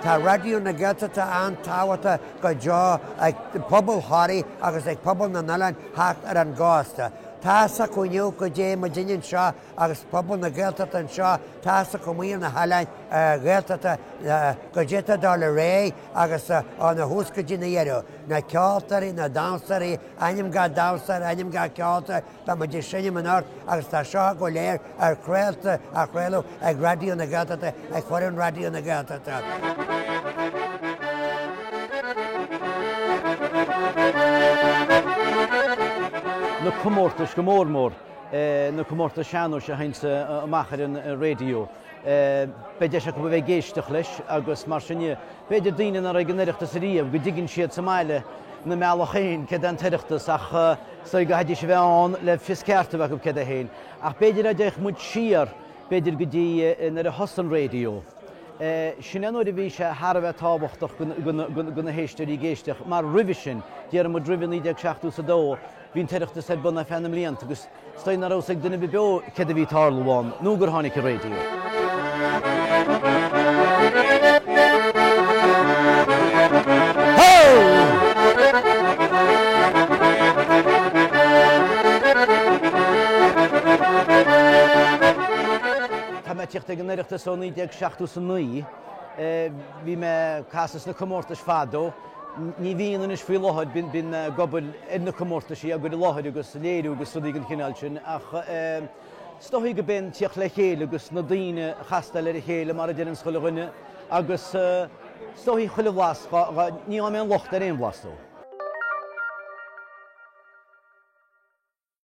Tá Raidió na Gaeltachta an-tábhachtach go deo ag pobal Thoraí agus ag pobal na n-oileán thart ar an gcósta. Tá's acu inniu go dtéann muidinne anseo agus pobal na Gaeltachta anseo tá's acu amuigh ar na hoileáin Ghaeltachta caidé a tharla aréir agus ó na thús go dtí na dheireadh, na ceoltóirí, na damhsóirí, ainm gach damhsóir, ainm gach ceoltóir, beidh muid ag seinm anocht agus tá seo go léir ar chraolta, á chraoladh ag Raidió na Gaeltachta, ag foireann Raidió na Gaeltachta. na comórtais go mór mór na comórtais sean-nóis a théanns amach ar an raidió. Beidh deis acu a bheith ag éisteacht leis agus mar sin de, b'fhéidir daoine nach raibh ag an Oireachtas ariamh, go dtuigeann siad sa mbaile, ina mbealach féin, céard é an tOireachtas ach chaithfidís a bheith ann le fios ceart a bheith acu céard é féin. Ach b'fhéidir dá dtéadh muid siar, b'fhéidir go dtí nuair a thosaigh an raidió, sin é an uair a bhí sé thar a bheith tábhachtach do na héisteoirí ag éisteacht mar roimhe sin, déarfaidh muid roimhe 1972, Bhí an tOireachtas ar bun ar feadh na mblianta agus is dóigh nach raibh a fhios ag duine ar bith beo céard a bhí ag tarlú ann nó gur tháinig an raidió. Tá mé ag tíocht ag an Oireachtas ó 1979. Bhí mé ag casadh sna comórtais fadó. Ní bhíonn anois faoi láthair, bíonn mé ag obair ar na comórtaisí, á gcur i láthair agus léiriú agus rudaí den chineál sin, ach is dóigh gurb é an tíocht le chéile agus na daoine a chastáil ar a chéile mar a deireanns chuile dhuine agus is dóigh chuile bhlas, ní fhaighim aon locht ar aon bhlas dó.